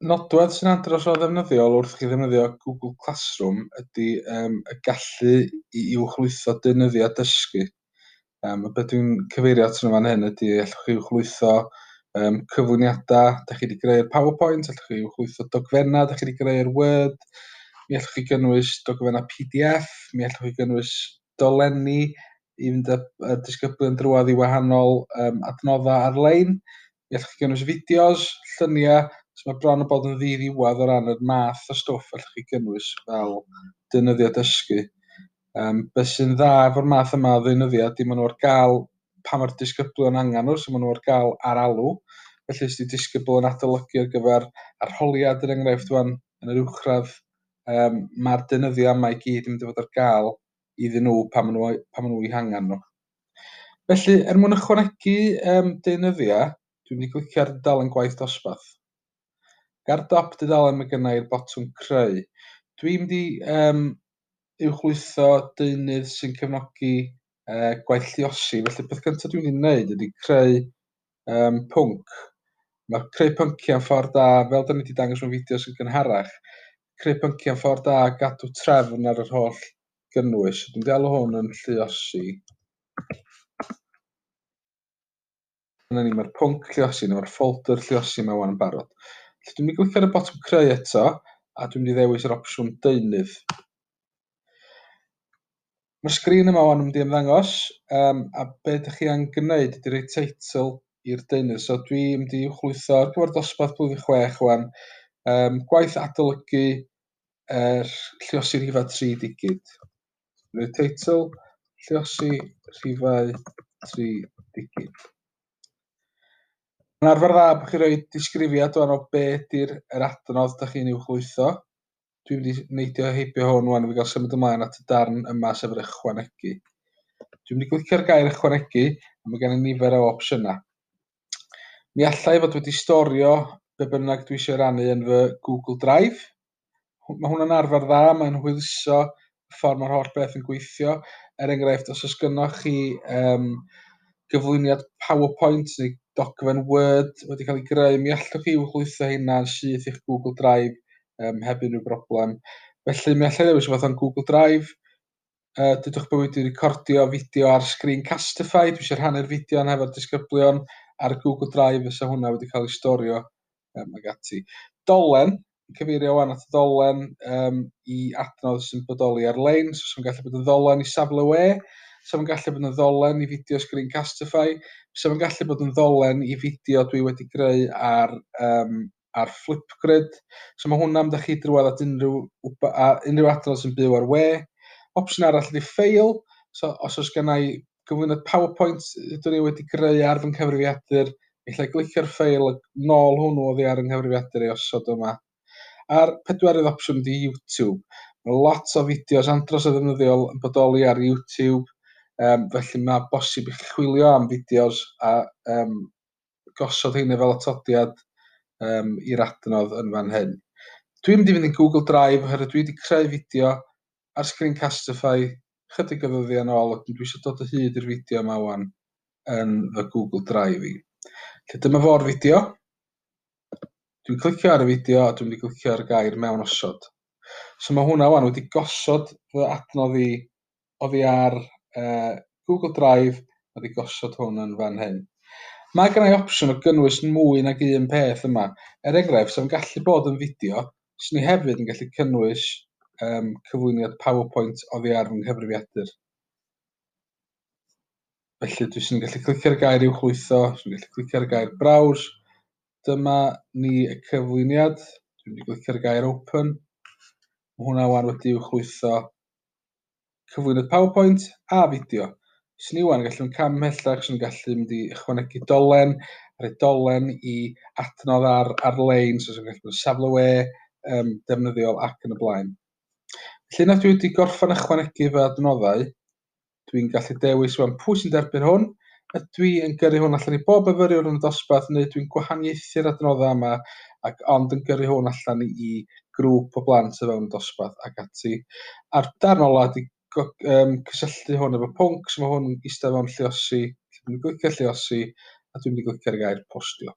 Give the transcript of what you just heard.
nodwedd sy'n andros o ddefnyddiol wrth chi ddefnyddio Google Classroom ydy um, y gallu i uwchlwytho deunyddiau dysgu. Um, y beth dwi'n cyfeirio at yn fan hyn ydy allwch chi uwchlwytho um, cyflwyniadau, da chi wedi greu'r PowerPoint, allwch chi uwchlwytho dogfennau, da chi wedi greu'r Word, mi allwch chi gynnwys dogfennau PDF, mi allwch chi gynnwys dolenni i fynd â dysgyblion drwad i wahanol um, adnoddau ar-lein. Mi allwch chi gynnwys fideos, lluniau, so mae bron yn bod yn ddi-ddiwedd o ran yr math o stwff allwch chi gynnwys fel deunyddiau dysgu. Um, be sy'n dda efo'r math yma o ddeunyddiau ydy maen nhw ar gael pa mae'r disgyblion angen nhw, so maen nhw ar gael ar alw. Felly os ydy disgybl yn adolygu ar gyfer arholiad yr enghraifft fan yn yr uwchradd, um, mae'r deunyddiau yma i gyd yn mynd i fod ar gael iddyn nhw pan maen nhw, pan maen nhw i hangen nhw. Felly, er mwyn ychwanegu um, deunyddiau, dwi'n mynd i glicio ar dudalen gwaith dosbarth. Ga'r dop dudalen mae gennau i'r botwm creu. Dwi'n mynd i um, uwchlwytho deunydd sy'n cefnogi uh, gwaith lliosi. Felly, beth gyntaf dwi'n mynd i wneud ydy creu um, pwnc. Mae creu pynciau yn ffordd da, fel da ni wedi dangos mewn fideos yn gynharach, creu pynciau yn ffordd da gadw trefn ar yr holl gynnwys, dwi'n galw hwn yn lliosi. Dyna ni, mae'r pwnc lliosi, neu mae'r ffolder lliosi mae wan yn barod. Felly dwi'n mynd i glicio ar y botwm creu eto, a dwi'n mynd i ddewis yr opsiwn deunydd. Mae'r sgrin yma o'n mynd i ymddangos, um, a be ydych chi angen gwneud ydy rhoi teitl i'r deunydd. So dwi'n mynd i chwytho ar gyfer dosbarth blwyddyn chwech o'n um, gwaith adolygu er lliosi rhifau tri digid. Roedd teitl lliosi rhifau tri digid. Mae'n arfer dda bod chi'n rhoi disgrifiad o'n o be di'r er adnodd da chi'n i'w chlwytho. Dwi'n mynd i neidio heibio hwn wan, fi gael symud ymlaen at y darn yma sef yr ychwanegu. Dwi'n mynd i glicio'r gair ychwanegu, a mae gen i nifer o opsiynau. Mi alla i fod wedi storio be bynnag dwi eisiau rannu yn fy Google Drive. Mae hwnna'n arfer dda, mae'n hwyluso y ffordd mae'r holl beth yn gweithio. Er enghraifft, os oes gynnwch chi um, gyflwyniad PowerPoint neu dogfen Word wedi cael ei greu, mi allwch chi wrlwytho hynna yn syth i'ch Google Drive um, heb unrhyw broblem. Felly mi allai ddewis rhywbeth o'n Google Drive, Uh, dydwch bywyd wedi recordio fideo ar Screencastify, dwi eisiau rhannu'r fideo yn hefo'r disgyblion ar Google Drive fysa hwnna wedi cael ei storio um, ag ati. Dolen, cyfeirio wan at y dolen um, i adnodd sy'n bodoli ar-lein, so sy'n gallu bod yn ddolen i safle we, sy'n gallu bod yn ddolen i fideo Screencastify, sy'n gallu bod yn ddolen i fideo dwi wedi greu ar um, ar Flipgrid. So mae hwnna am da chi drwad at unrhyw, unrhyw adrodd sy'n byw ar we. Opsiwn arall ydy ffeil. So os oes gen i gyflwyniad PowerPoint ydw i wedi greu ar fy nghyfrifiadur, allai glicio'r ffeil a nôl hwnnw oddi ar yng nghyfrifiadur ei osod yma. A'r pedwerydd opsiwn ydy YouTube. Mae lot o fideos andros o ddefnyddiol yn bodoli ar YouTube, um, felly mae bosib i chi chwilio am fideos a um, gosod heina fel atodiad um, i'r adnodd yn fan hyn. Dwi'n mynd i fynd i'n Google Drive oherwydd dwi wedi creu fideo ar Screencastify chydig o ddyddiau yn ôl ac dwi eisiau dod o hyd i'r fideo yma wan yn fy Google Drive i. Lle dyma fo'r fideo. Dwi'n clicio ar y fideo a dwi'n mynd i glicio ar y gair mewn osod. So mae hwnna wan wedi gosod fy adnodd i oddi ar uh, Google Drive, mae wedi gosod hwn yn fan hyn. Mae gennau opsiwn o gynnwys mwy nag un peth yma. Er enghraifft, sef yn gallu bod yn fideo, swn i hefyd yn gallu cynnwys um, cyflwyniad PowerPoint oddi ar fy nghyfrifiadur. Felly dwi sy'n gallu clicio'r gair i'w chlwytho, sy'n gallu clicio'r gair browse. Dyma ni y cyflwyniad. Dwi'n mynd i glicio'r gair open. Mae hwnna wan wedi i'w chlwytho cyflwynydd PowerPoint a fideo. Os ni wan, gallwn cam ymhellach, os ni'n gallu mynd i ychwanegu dolen, rhoi dolen i adnodd ar, ar-lein, so os ni'n gallu bod yn safle we, um, defnyddiol ac yn y blaen. Felly yna dwi wedi gorffan ychwanegu fy adnoddau, dwi'n gallu dewis wan pwy sy'n derbyn hwn, ydw i yn gyrru hwn allan i bob myfyriwr yn y dosbarth neu dwi'n gwahaniaethu'r adnoddau yma ac ond yn gyrru hwn allan i grŵp o blant o fewn y dosbarth ac ati. A'r darn ola ydy um, cysylltu hwn efo pwnc, so mae hwn eistedd o'n lliosi, lle dwi'n glicio lliosi a dwi'n mynd i glicio'r gair postio.